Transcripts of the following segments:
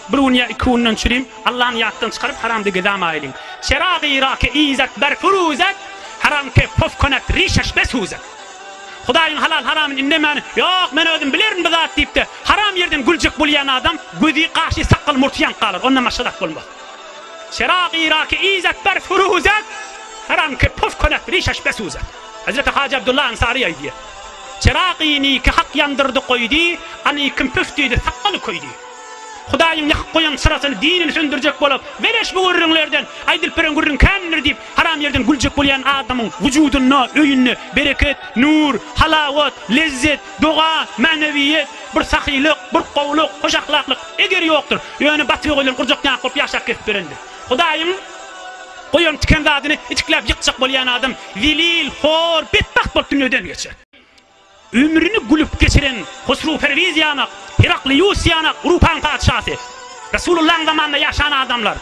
Bir gün ýa iki günden çürim, Allany ýatdan çykaryp, haramdigi dama aýlyň. Çerag-y Irak-e izet ber furuzet, Haram ke pof konet rişeş be suzet. Hudaýyň halal-haramyny indemän, Ýok, men özüm bilerin bu zat diýip-de, haram ýerden güljek bolýan adam, gözi, gaşy, sakgaly, murty ýanyp galar, ondan başga zat bolmaz. Çerag-y Irak-e izet ber furuzet, Haram ke pof konet rişeş be suzet. Hezreti Hajy Abdullah Ansary aýdýar, Çyragyny iki hak ýandyrdy goýdy, Any kim püf diýdi, sakgaly köýdi. Hudaýyň ýakyp goýan çyrasyny, dinini söndürjek bolup, Beleş bu gürrüňlerden, aýdylyp beren gürrüň kändir diýip, haram ýerden güljek bolýan adamyň wujudynda, öýünde bereket, nur, halawat, lezzet, doga, mänewiýet, bir sahylyk, bir gowulyk, hoş ahlaklyk, eger ýokdur. Ýöne batyr oguldan gurjakýaňak bolup ýaşap gezip ýörendir. Hudaýyň goýan tiken zadyny itikläp ýykjak bolýan adam Zelil, hor, betbagt bolup dünýeden geçer. Ömrüni gülüp geçiren Hosrowperwiz ýanak, Heraklius ýanak Urupanyň patyşasy, Resulyllahyň zamanynda ýaşan adamlar,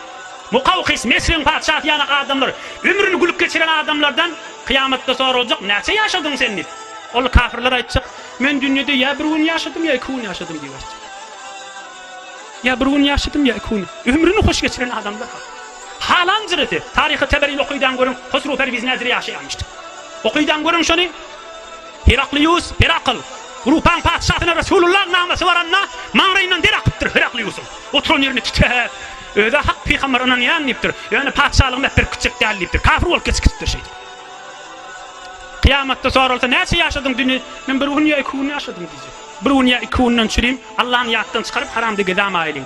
Mukawkys, Mesriň patyşasy ýanak adamlar, ömrüni gülüp geçiren adamlardan kyýamatda soraljak, Näçe ýaşadyň sen? diýip. Onda kafirler aýtjak, Men dünýede ýa bir gün ýaşadym, ýa iki gün ýaşadym diýip aýtjak. Ýa bir gün ýaşadym, ýa iki gün. Ömrüni hoş geçiren adamlar ha. Halan jyrasy. Taryhy Teberini okydaň görüň, Hosrow Perwiz nädire ýaşaýamyşdy. Okydaň görüň şony. Heraklius, Herakl. Rupaň patyşasyna Resulullah namasy baranda, maňraýyndan der akypdyr Herakliusyň. Oturan ýerini titräp, Öz-ä hak pygamber ynanýan diýipdir. Ýöne patyşalygymy äperip gitjek däl diýipdir. Kafir bolup geçip gitipdir şeýdip. Kyýamatda soralsa, Näçe ýaşadyň düni? Men bir gün ýa iki gün ýaşadym diýjek. Bir gün ýa iki günden çürim, Allany ýatdan çykaryp, haramda gezämaýlyň.